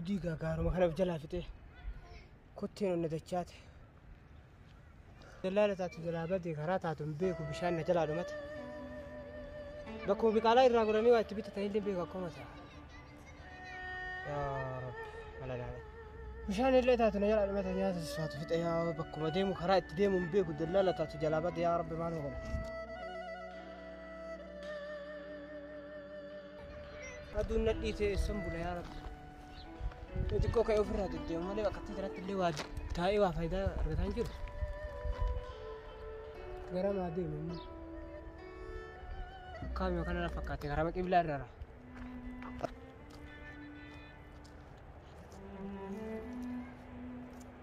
Abdii gaagaaruma kana of jalaa fixee kotteen onna dachaate. Dallaala taatu jalaa badee karaa taatu hin beeku bishaan na jalaa dhumate. Bakkuma biqaalaa irraa goranii waa itti bitatan illee beeku akkuma ta'a. Yaa Rabbi mana ilaalee. Bishaan illee taatu na jalaa dhumate nyaata saatu fixe yaa bakkuma deemu karaa itti deemu hin beeku dallaala taatu jalaa badee yaa Rabbi maal godha. Aduun nadhii ta'e eessan bula yaa rabbi. Yoo xiqqoo ka'ee ofirraa deddeemu malee bakka itti kanatti illee waa taa'ee waa faayidaa argataa hin jiru. Gara maa deemu immoo. Kaamii yookaan ala fakkaate karaa qiblaa irraa.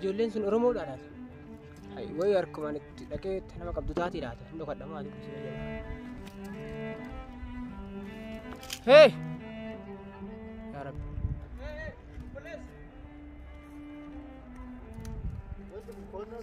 Ijoolleen sun Oromoodha laata? Wayi harkumaan itti dhaqee nama qabdu taatee laata? Hin dhokadha maali? Hee! Yaa Rabbi. Hey, hey, police! What's the corner?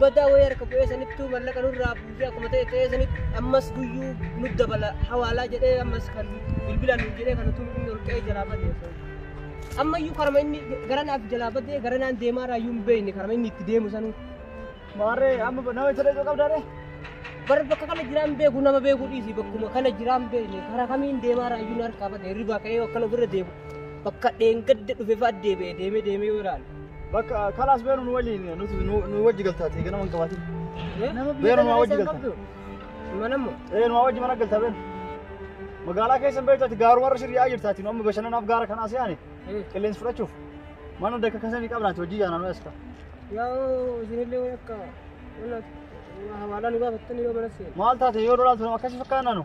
badaa wayii harka bu'ee sanittuu mallaqa nurraa buusee akkuma ta'e ta'ee sanitti ammas guyyuu nu dabala hawaalaa jedhee ammas kan bilbilaan nu jedhee kan utuu inni ol qe'ee jalaa badee osoo. Ammayyuu karama inni gara naaf jalaa badee gara naan deemaa irraa iyyuu hin beekne karama inni itti deemu sanuu. Maarree amma nama isa dhaquu qabdaa ree? Bara bakka kana jiraan beeku nama beeku dhiisi bakkuma kana jiraan beekne karaa kamiin deemaa irraa iyyuu nu harkaa badee hirribaa ka'ee akkana ofirra deemu bakka dheengadde dhufe fa'aa deebi'ee deemee deemee yoo ilaalu. Bakka kalaas beeru nu waliin nuti nu wajji galtaati egaa nama hin qabaatin. Beeru nu wajji galta. Manammoo. Ee nu wajji mana galta beeru. Magaalaa keessa beektu ati gaaruma irra shirriyaa jirtaati nu amma bashannanaaf gaara kanaa se'aani qilleensi fudhachuuf mana dakka kasanii qabnaati hojii yaanaa nu eessa. Yoo isinillee akka hawaalaa nu gaafattan yoo mana seenu. Maal taate yoo lolaaltu akkasii fakkaannaa nu.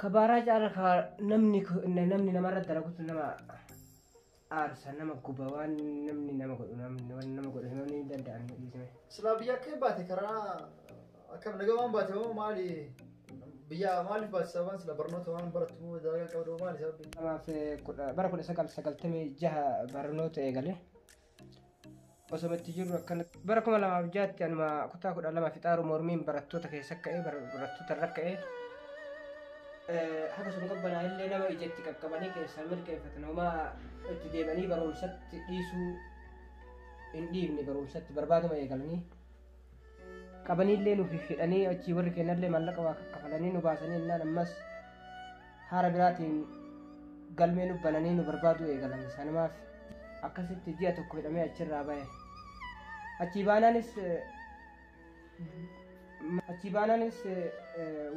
Kabaaraa caala ka namni namni namarra dalagutu nama aarsa nama guba waan namni nama godhu namni waan nama godhu himamni hin danda'an hin dhiisne. Silaa biyya akka hin baate karaa akka nagaa waan baate moo maali biyya maaliif baate sababaan sila barnoota waan barattu moo dalagaa qabdu moo maali sababni? Kanaaf eh, kudha- bara kudha sagal sagaltamii jaha barnoota eegale. Osoma itti jirru akkanatti. Bara 2006tti anuma kutaa 12 fixaaru mormiin barattoota keessa ka'ee barattoota irra ka'ee haga sun qabbanaa illee nama ija itti qaqqabanii keessaa mirkeeffatan homaa itti deebanii barumsatti dhiisuu hin dhiifne barumsatti barbaaduma eegalanii qabaniillee nuuf hidhanii achii warri kennallee maallaqa waa kaffalanii nu baasanii innaan ammas haara biraatiin galmee nu bananii nu barbaaduu eegalan sanumaaf akkasitti ji'a tokko hidhamee achirraa ba'e achii baanaanis achii baanaanis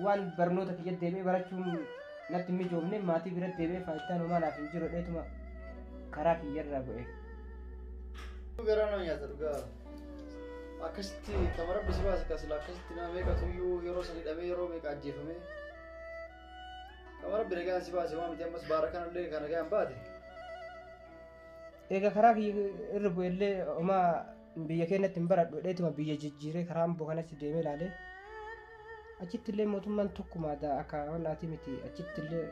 waan barnoota kiyya deebi'ee barachuun natti hin mijoofne maatii bira deebi'ee faayidaan homaa naaf hin jiru dheetuma karaa kiyyarraa bu'e. Gara nama nyaata dhugaa. Akkasitti kama rabbi si baase kasila akkasitti nama meeqa tuyyuu yeroo san hidhamee yeroo meeqa ajjeefamee. Kama rabbi nagaan si baase waan miti ammas baara kanallee kan nagaan baate. Egaa karaa kiyya irra bu'ellee homaa biyya keenyatti hin baradhu dheetuma biyya jijjiiree karaa amboo kanatti deemee ilaalee achitti illee mootummaan tokkuma daa akka honnaatii miti achitti illee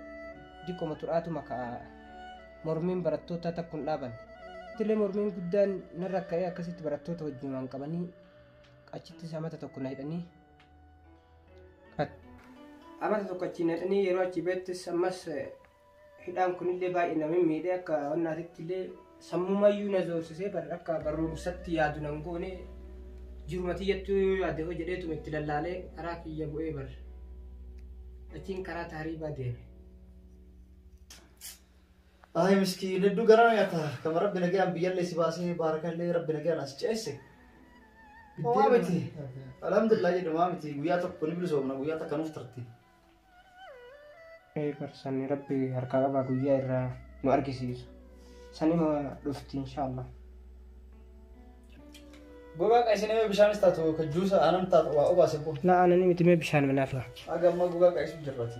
diqqoma turaatuma ka'a Mormiin barattootaa takku hin dhaabanne. Ittillee mormiin guddaan narra ka'ee akkasitti barattoota wajjinumaan qabanii achittis amata tokko na hidhanii amata tokko achiin na hidhanii yeroo achi beettis ammas hidhaan kunillee baay'ee na miidhee akka wannaatitti illee sammumayyuu na zoorsisee akka barumsatti yaadu nan goone jiruma tiyyattuu yoo yaade hoo jedheetuma itti lallaalee karaa kiyya bu'ee bar achiin karaa taariibaa deeme. Ay miskiin hedduu garaa na nyaata. Kama rabbi nagaan biyyallee si baasee baarakallee rabbi nagaan as ceesse. Homaa miti. Alhamdulillah jedhu maa miti guyyaa tokko ni bilisoomna guyyaa takka nuuf turte. Ee barsanni rabbi harkaa qabaa guyyaa irraa nu argisiisu. Sanima dhufti inshaallah. Gogaa qa'isin mee bishaanis taatu ka juusa aanan taatu waa obaase boo. Laa anani miti mee bishaan minaafa. Haga ammaa gogaa qa'isu jirrati.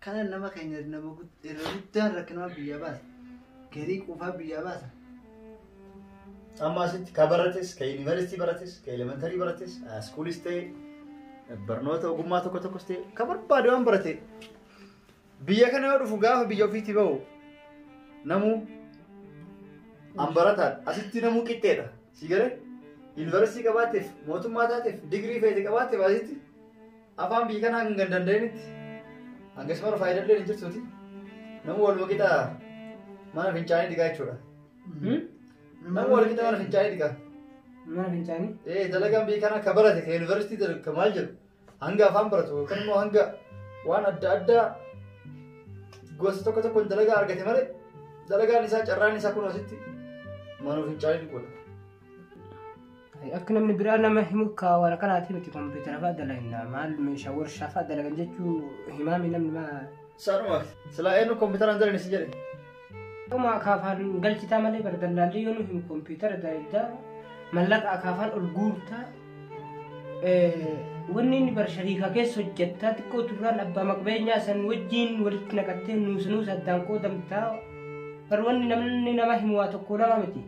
Kana nama keenya nama gud- irra guddaan rakkinaa biyyaa baasa. Garii quufaa biyyaa baasa. Amma asitti ka barates, ka yuunivarsiitii barates, ka elementarii barates, iskuulis ta'e, barnoota ogummaa tokko tokkos ta'e, ka barbaade waan barate. Biyya kana yoo dhufu gaafa biyya ofiitti bahu namuu an barataan asitti namuu qixxeedha. Si galee yuunivarsiitii qabaateef, mootummaa taateef, digirii feete qabaateef asitti Afaan biyya kanaa kan hin danda'initti hangas mara faayidaan illee hin jirtuuti. Namni wal waqixa mana fincaanii dhiqaa jechuudha. Namni wal waqixa mana fincaanii dhiqaa. Mana fincaanii? Ee dalagaan biyya kanaa ka barate ka yuunivarsiitii darbe ka maal jedhu hanga afaan baratu yookaan immoo hanga waan adda addaa gosa tokko tokkoon dalagaa argate malee dalagaan isaa carraan isaa kun asitti mana fincaanii dhiquudha. Akka namni biraa nama himu kaawara kanaati miti kompiitara fa'aa dalagnaa maal meeshaa warshaa fa'aa dalagan jechuu himaami namni maa. Saanuma silaa eenyu kompiitaraan dalagna si jedhe. Akkuma akaafaan galchitaa malee bara dallaallee yoo nu himu kompiitara dalagdaa mallaqa akaafaan ol guurtaa wanni inni bara shariikaa keessa hojjettaa xiqqoo turraan abbaa maqbeenyaa san wajjiin walitti naqattee nuusa nuusa addaan qoodamtaa bara wanni namni nama himu waa tokko lama miti.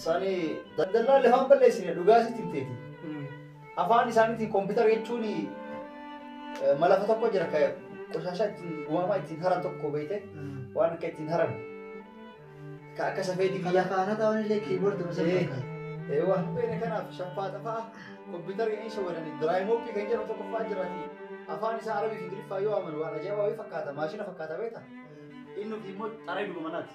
Sani daldallaan lafa hin balleessine dhugaa sitti hin teeti. Afaan isaaniitiin kompiitara jechuun malafa tokko jira ka qoshashaa ittiin uumamaa ittiin haran tokko beekte waan akka ittiin haran. Ka akka safeedii biyya. Lafaana ta'an illee kiiboordi gosa Eh. fakkaata. Eewwa. Beene kanaaf shaffaa xafaa kompiitara inni isa wadani diraayimoopii kan jedhamu tokko fa'aa jiraati. Afaan isaa arabii fi ingiliffaa yoo amanu waan ajaa'ibaa wayii fakkaata maashina fakkaata beekta. Inni immoo xaree duba manaati.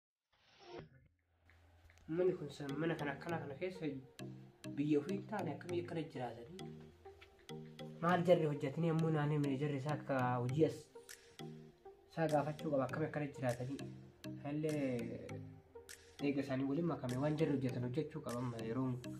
Manni kun san mana kan akkana kana keessa biyya ofii hin taane akkamii akkana jiraatanii maal jarri hojjetanii ammoo naannoo mana jarri isaa akka hojii as isaa gaafachuu qaba akkamii akkana jiraatanii hallee eega isaanii waliin makame waan jarri hojjetan hojjechuu qaba amma yeroon kun.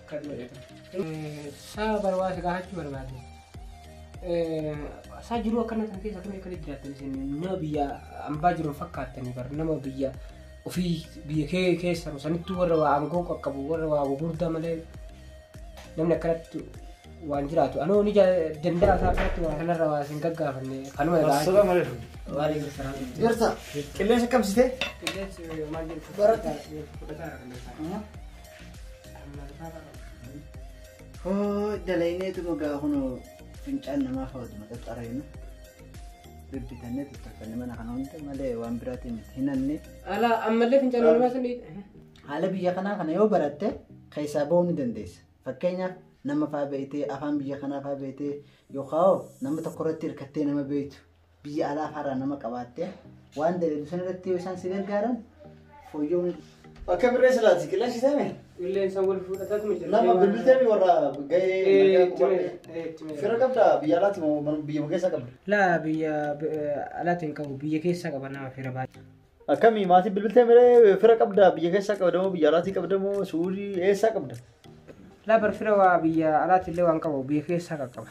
Akka du'eetu. Saa barbaade gaafachuu barbaade. Saa jiruu akkana kan keessa akkamii akkana jiraatan isin nama biyya ambaa jiru fakkaattanii bar nama biyya ofii biyya kee keessa sanittuu warra waa aangoo qaqqabu warra waa gurguddaa malee namni akkanatti waan jiraatu anoo ni danda'a isaa akkanatti waa kanarra waa isin gaggaafanne kanuma egaa. Assalamu alaikum. Waalaikum salaam. Jirta? Qilleensa qabsitee? Qilleensi maal jedhu? Barata. Fudhataa irra kan Hoo dalayneetuma gaa kunoo fincaan namaa fayyadama xaxxareenu. Bibbitannee tuttuqfanne mana kana hunda malee waan biraatiin miti hinanne. Ala ammallee fincaan namaa sanii. Haala biyya kanaa kana yoo baratte keessaa ba'uu ni dandeessa. Fakkeenyaaf nama faa beeytee afaan biyya kanaa faa beeytee yookaan nama tokko irratti hirkattee nama beeytu biyya alaa faarraa nama qabaattee waan daleedu san irratti yoo isaan si gargaaran fooyyoo ni Akka birree silaati qilleensi seeme Qilleensa wal fudhatatu miti. nama bilbilteemi warra gahee nagaa qubadhe. Fira qabda biyya alaati moo mana- biyyuma keessa qabda. Laa biyya alaatti hin qabu biyya keessa qaba nama fira baay'ee. Akkamii maatii bilbiltee miree fira qabda biyya keessa qabda moo biyya alaati qabda moo suudii eessaa qabda. Laa bar fira waa biyya alaatti illee waan qabu biyya keessa qaqqaba.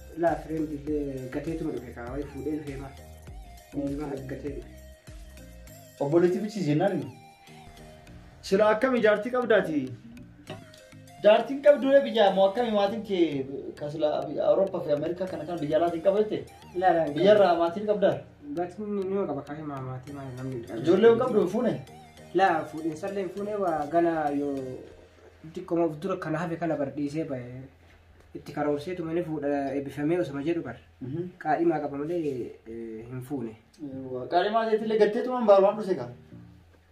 Ilaa fireen billee gateetuma dhufe kaa wayi fuudhee dhufee maa. Ilmaa gatee dhufe. Obboleetti bichii jennaan sila akkam ijaartii qabdaati? Jaartiin qabduu biyya moo akkami maatiin kee kasila Awurooppaa fi Ameerikaa kana kan biyya alaatiin qaba jette Ilaa ilaa. biyyarraa maatiin qabdaa? Gatiin nima qaba kaa himaa maatii maa namni. Ijoollee hin qabdu hin fuune? Laa fuudhinsallee hin fuunee waa gana yoo xiqqoomaaf dura kana hafe kana bardhiisee bahe. itti karoorseetuma ni fuudha eebbifamee osuma jedhu bar qaadhimaa qaba malee eh, hin fuune. Qaalimaa ta'etillee gatteetumaan baarumaan dhuse kaa.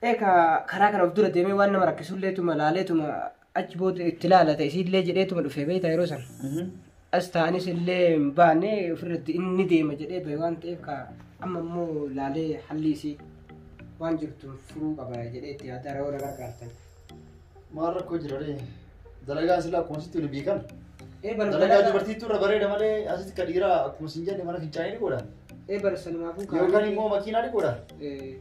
Eeka karaa kana of dura deemee waan nama rakkisulleetuma laaleetuma achi booda itti laalata isiillee jedheetuma dhufee beekta yeroo sana. As ta'anis illee hin baane ofirratti inni deema jedhee bahe waan ta'eef ka amma immoo laalee halli isii waan jirtu furuu qaba jedhee itti yaadaa yeroo na gargaartan. Maal rakkoo jira ree? Dalagaan silaa akkuma sitti waliin beekan. Ee bara Dalagaa dalagaa dubartiitu irra bareeda malee asitti ka dhiiraa akkuma sin jenne mana fincaanii ni godha. ee bara sanumaafuu kaa'anii- Yookaan immoo makiinaa ni godha. Ee,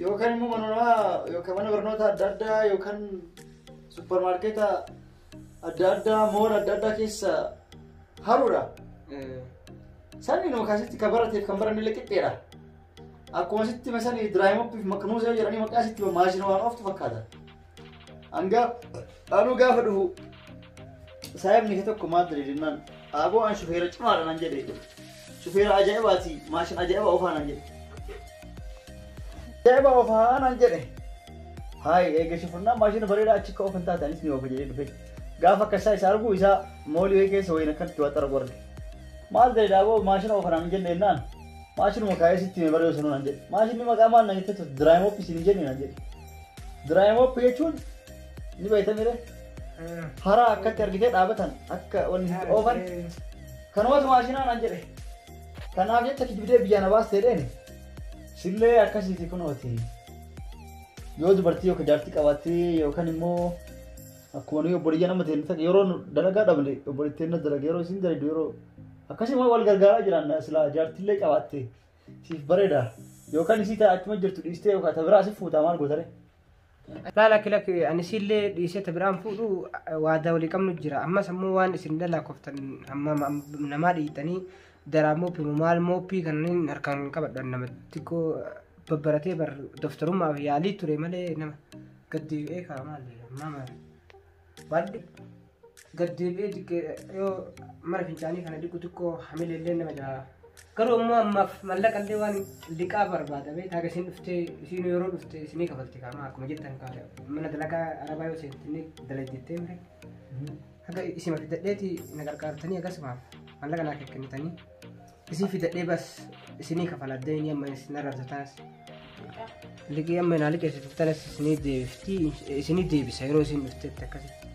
Yookaan immoo mana namaa yookaan mana barnoota adda addaa yookaan supparmaarkeeta adda addaa moola adda addaa keessa haruudha. ee. Sanni nama kaasitti ka barateef kan baranne illee qixxeedha. Akkuma sitti masanii diraayimoppiif maknuuzee jedhanii maqaa sitti maashina waan ooftu fakkaata. Hanga anuu gaafa dhufu saayibni kee tokko maal jedhe jennaan aaboo an shufeera cimaadha nan jedhe shufeera ajaa'ibaati maashina ajaa'iba oofaa nan jedhe. Ajaa'iba oofaa nan jedhe. Haay eega shufurnaan maashina bareedaa achi akka oofan taate anis ni oofa jedhee dhufe. Gaafa akka isaa isa arguu isaa moolii wayii keessa wayiin akkatti waa xaragu arge. Maal ta'e daaboo maashina oofan nan jedhe jennaan Maashinuma kaayee sitti hime barreessu naan jedhe. Maashinni maqaa maal na jettee turte diraayimooppi isin hin jenne naan jedhe. Diraayimooppi jechuun ni beektamire. Haraa akkatti argitee dhaabatan akka wanni sitti oofan kanumatu maashinaa naan jedhe. Kanaaf jecha kijibdee biyyaa na baastee dheeni. Sillee akkasiiti kunooti. Yoo dubartii yookiin jaartii qabaattee yookaan immoo akkuma nuyi obboleeyyan amma ta'e yeroo dalagaa dhabne obboleettiin na dalaga yeroo isin dalagdu yeroo Akkasuma wal gargaaraa jiraanna silaa jaartillee qabaatte siif bareeda yookaan isii ta'a achuma jirtu dhiistee yookaan ta biraa si fuutaa maal gootare. Laa lakki lakki ani isiillee dhiisee ta biraan fuudhu waadaa walii qabnu jira. Ammas ammoo waan isin dalaakoftan amma namaa dhiitanii daraa mooppii moo maal mooppii kanneen harkaan hin qabadhan nama xiqqoo babbaratee bar doftarummaaf yaalii ture malee nama gaddi eegaa maal maama waan Gad deebi'ee diqqee yoo mana fincaanii kana diqqu xiqqoo hamilee illee nama jaa. Garuu immoo ammaaf mallaqa illee waan liqaa barbaada bee taaga isin dhuftee isin yeroo dhufte isinii kafalti kaama akkuma jettan kaa mana dalagaa arabaa yoo seente inni dalagdettee mire. Haga isima fidadheeti na gargaartanii akkasumaaf mallaqa naa kennitanii. Isii fidadhee bas isinii kafaladde inni amma isin arrabsa tanas. Liqii amma naa liqeessitu tanas isinii deebifti isinii deebisa yeroo isin dhuftetti akkasitti.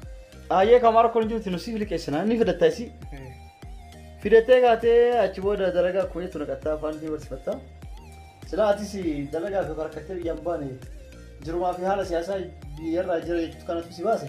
Ayyee kan maal kun jirti nusiif liqeessina inni fidatta isii. Fidattee kaatee achi booda dalagaa kuweetu naqattaa afaan fi barsiifattaa. Silaa atis dalagaa fi barakattee biyyaan baane jirumaa fi haala siyaasaa biyyarraa jira jechuutu kanatu si baase.